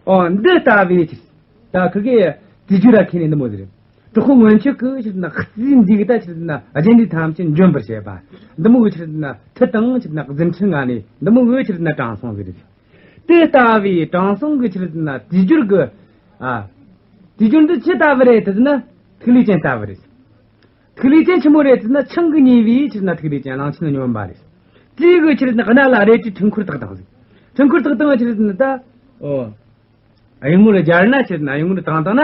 འདི་ལྟ་བུའི་ཕྱིར། ད་ཁི་ཀི། དེ་རྒྱུ་ར་ཁེ་ནི་ནི་མོ་ཟེར། གྲོགས་ཁོ་སྔོན་ཆོད་ཀི་ཕྱིར་ན་ཁཙི་འཛི་གི་ད་ཕྱིར་ན་རྗེ་འདི་ཐམས་ཅད་འཇོམས་པར་བྱེད་པ། འདི་མོ་བའི་ཕྱིར་ན་ཐི་དང་ཕྱིར་ན་གཛིན་ཁྲི་ང་ནི་འདི་མོ་བའི་ཕྱིར་ན་དྲང་སྲོང་ཟེར། དེ་ལྟ་བུའི་དྲང་སྲོང་གི་ཕྱིར་ན་དེ་རྒྱུར་གི། དེ་རྒྱུར་འདི་ཇི་ལྟ་བུ་རེད་དེ་ན་ཐིག་ལེ་ཅན་ལྟ་བུ་རེད། ཐིག་ལེ་ཅན་ཆེན་མོ་རེད་ཟེར་ན་ཆང་གིས་ཉེ་བའི་ཕྱིར་ན་ཐིག་ལེ་ཅན་གླང་ཆེན་ལ་སྙོམས་པ་རེད། རྩིས་གི་ཕྱིར་ན་རྣ་ལ་རས་ཀྱི་འཕྲེང་འཁོར་དག་དང། འཕྲེང་འཁོར་དག་དང་ཕྱིར་ཟེར་ན་ད། གཡུང་མོ་ལ་སྦྱར་ན་ཕྱིར་ན་གཡུང་མོ་ལ་དང་དང་ན།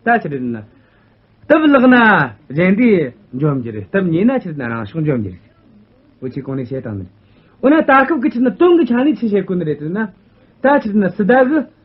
ད་ཕྱིར་ཟེར་ན། སྟབས་བརླག་ན་གཞན་དེ་འཇོམས་རྒྱུ་རེད་སྟབས་ཉེས་ན་ཕྱིར་ན་རང་ཕྱོགས་འཇོམས་རྒྱུ་རེད། འོ་ཆོས་གང་ནས་བཤད་དང་ནི། འོ་ན་ད་སྐབས་ཀྱི་ཕྱིར་ན་སྟོང་གི་ཆ་ནས་ཆོས་བཤད་དཀོན་རེད་ཟེར་ན། ད་ཕྱིར་ན་སི་ད་གི།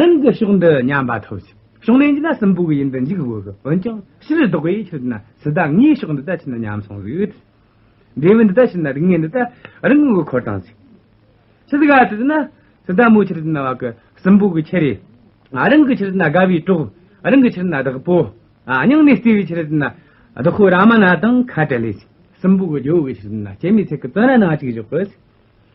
རང་གི་ཕྱོགས་འདི་ཉམས་པ་ཐོབ་ཅིག། ཕྱོགས་ནས་འཇིག་ན་སྲིན་པོ་གི་ཡིན་དུ་འཇིག་དགོས་ཀྱི་འོན་ཀྱང་ཕྱིར་ལྡོག་པའི་ཡུལ་ཆོས་ན་སྲི་ད་ངའི་ཕྱོགས་འདི་ལྟ་བྱས་ན་ཉམས་སོང་ཟིག། འབྲས་བུ་འདི་ལྟ་བྱས་ན་རིགས་ངན་འདི་ལྟ་རང་གི་མགོ་འཁོར་དང་ཟིག། ཕྱིར་དགའ་བྱས་ན་སྲི་ད་མོའི་ཕྱིར་ན་བ་གི་སྲིན་པོ་གི་ཁྱི་རེ། རང་གི་ཕྱིར་ན་དགའ་བའི་གྲོགས་རང་གི་ཕྱིར་ན་བདག་པོ། སྙིང་ནས་བརྩེ་བའི་ཕྱིར་ན་བདག་ཁོ་ར་མ་ན་དང་ཁ་བྲལ་ལེ་ཟིག། སྲིན་པོ་གི་ཇོ་བོ་གི་ཕྱིར་ན་སྐྱེ་མེད་ཚིག་གི་བཙོན་ར་ན་གཅིག་བཞག་གི་ཟིག།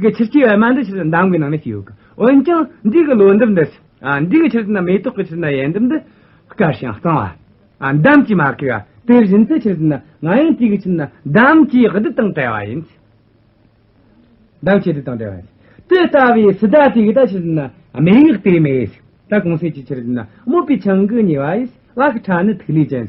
གི་ཕྱིར་སྐྱེ་བའི་སྨན་དུ་ཕྱིར་དུ་འདམ་གྱི་ནང་ན་སྐྱེས་ཡོད། འོན་ཀྱང་འདི་གི་ལོ་འདབ་འདི་འདི་གི་ཕྱིར་ན་མེ་ཏོག་གི་ཕྱིར་ན་ཡལ་འདབ་འདི་དཀར་ཞིང་གཙང་བ། འདམ་གྱིས་མ་གོས་པ་དེ་བཞིན་དུ་ཕྱིར་ན་ང་ཡང་དེ་གི་ཕྱིར་ན་འདམ་གྱིས་རྡུལ་དང་བྲལ་བ་ཡིན། འདམ་གྱིས་རྡུལ་དང་བྲལ་བ་ཡིན། དེ་ལྟ་བུའི་ཚེ་ད་དེ་གི་ད་ཕྱིར་ན་མེ་ཡིག་དེ་མེ་ཡིས། ད་གོང་གསལ་གྱི་ཕྱིར་ན་སྨུག་པའི་ཆང་གིས་ཉེ་བ་ཡིས་བ་གི་ཁྲག་ནི་ཐིག་ལེ་ཅན།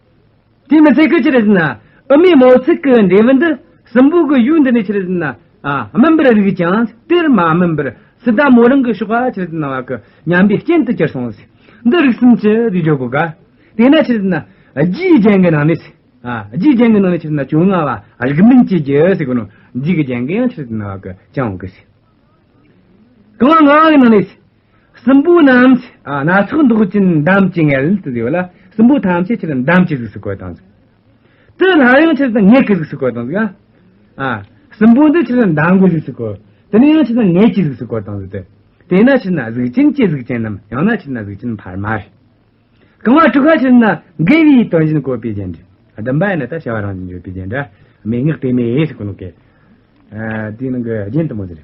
དེ་མི་ཟེར་གི་ཅི་རེད་ཟེར་ན་ཨུ་མའི་མོ་ཚིག་གི་འབྲས་བུ་འདི་གསུམ་པོ་གི་ཡུལ་འདི་ནས་ཆི་རེད་ཟེར་ན་སྨིན་པར་རིགས་ཀྱང་དེར་མ་སྨིན་པར་སི་ཏཱ་མོ་རང་གི་གཤོག་པ་ཆི་རེད་ཟེར་ན་བ་གི་ཉམས་པའི་རྐྱེན་དུ་གྱུར་སོང་ཟེར་འདི་རིགས་གསུམ་གྱི་དུས་འཇོག་གོ་དགའ་དེས་ན་ཆི་རེད་ཟེར་ན་རྒྱུའི་རྐྱེན་གྱི་ནང་ནས་རྒྱུའི་རྐྱེན་གྱི་ནང་ནས་ཆི་རེད་ཟེར་ན་བྱུང་ང་བ་རིགས་མིན་གྱི་རྒྱུ་ཟེར་གི་ནོ་རྒྱུའི་རྐྱེན་གྱི་ཡང་ཆི་རེད་ཟེར་ན་བ་གི་ཅང་གི་ཟེར་གང་ང་གི་ནང་ནས་སྲིན་པོ་རྣམས་སྣ་ཚོགས་མདོག་ཅན་འདམ་གྱི་མངལ་དུ་ལུས་པ་ལ་སྲིན་པོ་ཐམས་ཅད་ཕྱིར་འདམ་གྱི་གཟུགས་སུ་བཀོད་དང། དེ་ལྷ་ཡང་ཕྱིར་དང་ངད་ཀྱི་གཟུགས་སུ་བཀོད་དང། སྲིན་པོ་འདི་ཕྱིར་འདམ་གྱི་གཟུགས་སུ་བཀོད། དེ་ནི་ཡང་ཕྱིར་དང་ངད་ཀྱི་གཟུགས་སུ་བཀོད་དང། དེས་ན་ཕྱིར་ན་གཟུགས་ཅན་གྱི་གཟུགས་ཅན་ནམ་ཡང་ན་ཕྱིར་ན་གཟུགས་ཅན་བར་མར། གང་བ་དྲུག་ག་ཕྱིར་ན་དགེ་བའི་དོན་བཞིན་བཀོད་པའི་རྒྱན་གྱི་བདུན་པ་ཡང་ན་ད་བྱ་བ་རང་བཞིན་བརྗོད་པའི་རྒྱན་འདྲ་མི་ངག་པའི་མེས་སུ་བཀོད་ནོ། དེའི་ནང་གི་རྒྱན་དུ་མ་ཟེར།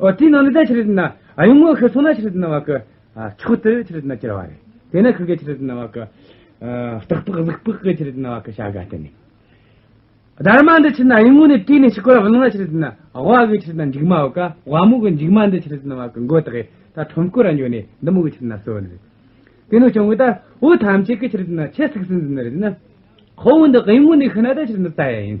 ཨོ་དེའི་ནང་ལས་ད་ཕྱི་རོལ་དུ་ན་གཡུང་མོ་ཤི་སོང་ན་ཕྱི་རོལ་དུ་ན་བ་ཀི། ཕྱོགས་དེར་ཕྱི་རོལ་དུ་ན་སྐྱེ་བ་རེ། དེ་ན་ཁུ་གེ་ཕྱི་རོལ་དུ་ན་བ་ཀི། སྟག་ལྤགས་གཟིག་ལྤགས་ཀི་ཕྱི་རོལ་དུ་ན་བ་ཀི་བྱ་ག་སྟེ་ནི། སྡར་མ་འདི་ཕྱི་ན་གཡུང་མོ་ནི་བཀྲུས་ནས་ཕྱི་སྐོར་བ་ལང་ན་ཕྱི་རོལ་དུ་ན་བ་ཀི་ཕྱི་རོལ་དུ་ན་འཇིགས་མ་བ་ཀ་བ་མོ་གི་འཇིགས་མ་འདི་ཕྱི་རོལ་དུ་ན་བ་ཀི་མགོ་དག་གིས་ད་ཁྲོམ་སྐོར་བ་ཉོས་ནས་འདི་མོ་གི་ཕྱི་རོལ་ན་སོན་རེ། དེ་ནི་བྱུང་བས་ད་བུ་ཐམས་ཅད་ཀི་ཕྱི་རོལ་དུ་ན་ཆེ་སིག་སིན་ཟིན་རེ་ན། ཁོ་བོ་འདི་གཡུང་མོ་འདི་ཤི་ན་ད་ཕྱི་རོལ་དུ་ན་ད་ཡ་ཡིན།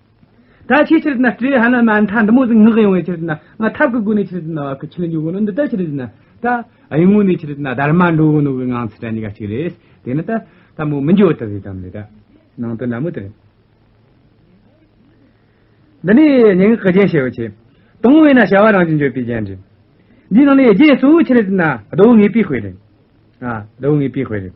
ད་ཁྱེད་ཕྱིར་དེ་ན་སྤྲོས་ཧ་ན་མ་མཐའ་འདི་མོ་ཟིག་ངག་ཡོང་བའི་ཕྱིར་དེ་ན་ང་ཐབས་ཀྱི་སྒོ་ནས་ཕྱིར་དེ་ན་བ་ཁུ་ཆུ་ལ་འཇུག་གོ་ནོ་འདི་ལྟར་ཕྱིར་དེ་ན་ད་གཡུང་ངུ་ནས་ཕྱིར་དེ་ན་སྡར་མ་འགྲོ་གོ་ནོ་གི་ངང་ཚུལ་དྲན་ནི་ག་ཅིག་རེད་དེ་ནི་ད་ད་མོ་མི་འགྱོ་ད་ཟིག་དམ་ལས་ད་ནང་དོན་ན་མོ་དེ་འདི་ནི་སྙིང་གི་རྒྱན་ཞེས་བ་ཆེ་དང་བས་ན་བྱ་བ་རང་བཞིན་བརྗོད་པའི་རྒྱན་རེད་འདིའི་ནང་ནས་རྒྱན་གཙོ་བོ་ཕྱིར་དེ་ན་ཟློག་ངེས་པའི་དཔེ་རེད་ཟློག་ངེས་པའི་དཔེ་རེད།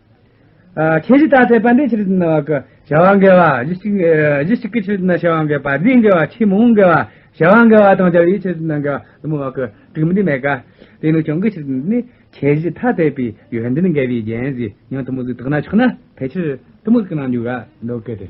ཁྱེད་ཀྱིས་ད་ཐེངས་པ་འདི་ཕྱིར་བསྣུར་བ་ཀི། བྱ་བ་འགལ་བ་གཞི་གཅིག་གཞི་གཅིག་གི་ཕྱིར་བསྣུར་བྱ་བ་འགལ་པ་འདིའི་འགལ་བ་ཆེས་མང་བོ་འགལ་བ་བྱ་བ་འགལ་བ་དང་བྱ་བའི་ཕྱིར་བསྣུར་འགལ་བ་དུ་མ་བ་ཀི་དྲུག་མི་འདི་མེད་ཀ། དེ་ནི་ཆུང་གི་ཕྱིར་བསྣུར་ནི་ཁྱེད་ཀྱིས་ཐ་དད་པའི་ཡོན་ཏན་འགལ་བའི་རྒྱན་གཞི་ཉིད་དུ་མ་གཟུགས་དག་ན་ཆགས་ན་ཕལ་ཆེར་གཏི་མུག་གི་རྣམ་འགྱུར་འགའ་འདོགས་སྐད་དེ།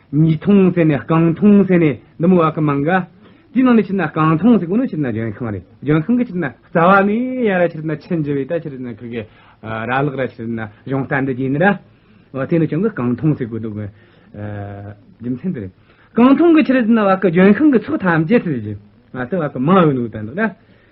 ཉིས་སྟོང་ཟེར་ནས་རྐང་སྟོང་ཟེར་ནས་འདི་མོ་བ་གི་མང་ག། དེའི་ནང་ནས་ཕྱིར་ན་རྐང་སྟོང་ཟེར་དགོས་ན་ཕྱིར་ན་ལྗོན་ཤིང་རེད་ལྗོན་ཤིང་གི་ཕྱིར་ན་རྩ་བ་ནས་ཡ་ར་ཕྱིར་ན་ཆིན་ཇི་བས་ད་ཕྱིར་ན་ཁུ་གེ་ར་ལག་ར་ཕྱིར་ན་གཞུང་རྟ་འདི་བརྒྱན་ར། དེ་ནས་བྱུང་གི་རྐང་སྟོང་ཟེར་དགོས་འདུག་གི། རྒྱུ་མཚན་འདི་རེད། རྐང་སྟོང་གི་ཕྱིར་ན་བ་གི་ལྗོན་ཤིང་གི་ཚོགས་ཐམས་ཅད་ཟེར་གྱི། ང་ཚོ་བ་གི་མང་བས་ནུས་ལྡན་འདུག་ན།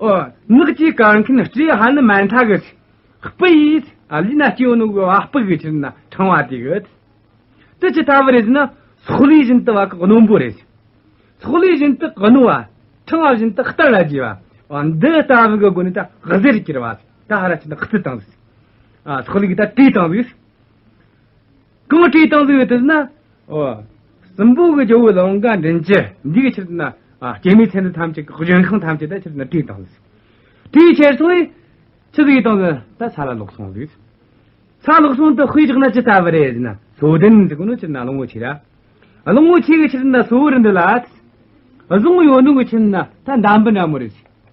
ནགས་ཀྱི་སྐར་མཁན་སྤྲེའུ་ཧ་ནི་མ་མཐའ་གི། སྤུ་ཡིས་ལུས་ན་སྐྱོན་ནོ་གི་བ་སྤུ་གི་ཕྱིར་ན་ཕྲེང་བ་དེ་གི། དེ་ཇི་ལྟ་བུ་རེ་ཞེ་ན། སོག་ལུས་བཞིན་དུ་བ་གི་སྣུམ་པོ་རེ། སོག་ལུས་བཞིན་དུ་གི་སྣུམ་བ། ཕྲེང་བ་བཞིན་དུ་སྟར་ལ་རྒྱས་པ། འདི་ལྟ་བུ་གི་སྒོ་ནས་ད་གཟེར་གྱི་ར་བ། ད་ཧ་ར་ཅི་ན་ཁི་ཏང། སོག་ལུས་ཀྱི་ད་དུས་དང་དུས། གང་བཀྲེས་བཏང་གཟིགས་ཡོད་དུས་ན། སྲིན་པོ་གི་ཇོ་བོའི་ལོ་འགའ་འདྲེན་ཅི། འདི་གི་ཕྱིར་དུ་ན། སྐྱེད་མོས་ཚལ་འདི་ཐམས་ཅད་ཀྱི་འཇོན་ཁང་ཐམས་ཅད་དེ་ཕྱིར་དུ་ན་བཀྲེས་བཏང་གཟིགས། དེའི་ཕྱིར་སོང་བས། ཅི་གཟིགས་བཏང་ན་ད་ས་ལ་ལོག་སོང་གཟིགས། ས་ལོག་སོང་དུ་དཔེ་བཞག་ན་ཅི་ལྟ་བུ་རེད་ཟེར་ན་སོ་བདུན་ཟེར་གོ་ནོ་ཕྱིར་ན་གླང་བོ་ཆེ་ར། གླང་བོ་ཆེ་གི་ཕྱིར་ན་སོ་བུར་འདི་ལ། གཟུངས་ཡོད་ནོ་གི་ཕྱིར་ན་ད་འདམ་བུ་འདྲ་མོ་རེད།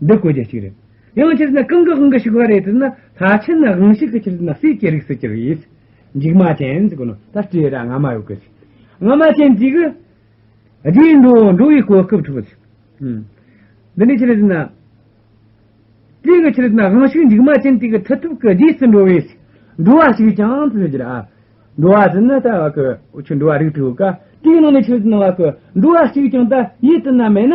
འདི་བཀོད་རྒྱ་གཅིག་རེད། ཡང་ཕྱིར་ན་གང་གི་དབང་གིས་ཞུགས་པ་རེད་དེ་ན་ད་ཕྱིར་ན་དབང་ཞིག་གི་ཕྱིར་ན་སྲིད་ཀྱི་རིགས་སུ་གྱུར་ཡིད། འཇིགས་མ་ཅན་གོ་ནོ་ད་སྤྲོས་ར་ང་མ་ཡོད་གི། ང་མ་ཅན་འཇིགས། རྗེས་འགྲོ་འགྲོ་བའི་གོ་སྐབས་འཕྲོག། འདི་ནི་ཕྱིར་ན། སྤྲོས་ཀྱི་ཕྱིར་ན་དབང་ཞིག་འཇིགས་མ་ཅན་དེ་གི་མཐུ་ཐུབ་ཀྱི་རྗེས་སུ་འགྲོ་བས། འགྲོ་བ་ཞིག་ཀྱང་ཕྱིར་ན་འགྱུར། འགྲོ་བ་དེ་ནི་ད་བ་གི་འོ་ཆུ་འགྲོ་བ་རིགས་དྲུག་ག་དྲུག་ནང་ནས་ཕྱིར་ན་བ་གི་འགྲོ་བ་ཞིག་ཀྱང་ད་ཡིད་དུ་ན་མེད་ན།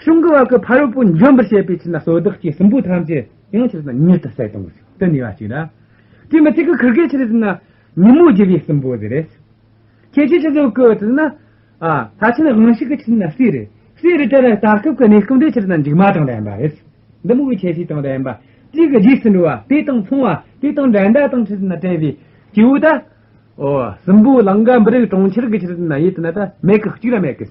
གཞུང་གི་བར་གྱི་ཕ་རོལ་པོ་འཇོམས་པར་བྱེད་པའི་ཕྱིར་ན་སོ་བདག་སྐྱེས་གསུམ་པོ་ཐམས་ཅད་ཡང་ཕྱིར་ན་མྱུར་དུ་གསལ་སྟོང་གི་ཆོས་དེ་ནུས་པ་ཅིག་ལ། དེ་མི་ཚིག་གི་ཁུར་གྱི་ཕྱིར་དེ་ན་ཉིན་མོ་བརྒྱུད་པའི་གསུམ་པོ་དེ་རེད། ཁྱེད་ཀྱིས་ཅི་ཟེར་གོ་དེ་ན། ལྷ་ཆེན་དབང་ཤིག་གི་ཕྱིར་ན་སྲས་རེད། སྲས་རེད་དེ་ལ་ད་སྐབས་ཀྱི་གནས་སྐབས་འདིའི་ཕྱིར་ན་མཇུག་མ་དང་ལྡན་པ་རེད། འདི་མུ་གེ་ཆེ་ཤོས་དང་ལྡན་པ། གཅིག་གི་རྗེས་སུ་འགྲོ་བ་དེ་དང་མཚུངས་བ་དེ་དང་འགྲན་ཟླ་དང་ཕྱིར་ན་བྲལ་བའི་སྐྱེས་བུ་དག། གསུམ་པོ་ལང་ཀ་འབུ་རིགས་གྲོང་ཁྱེར་གྱི་ཕྱིར་དེ་ན་ཡིད་དེ་ན་ད་མེད་ཀྱི་གཅིག་ལ་མེད་ཀྱི།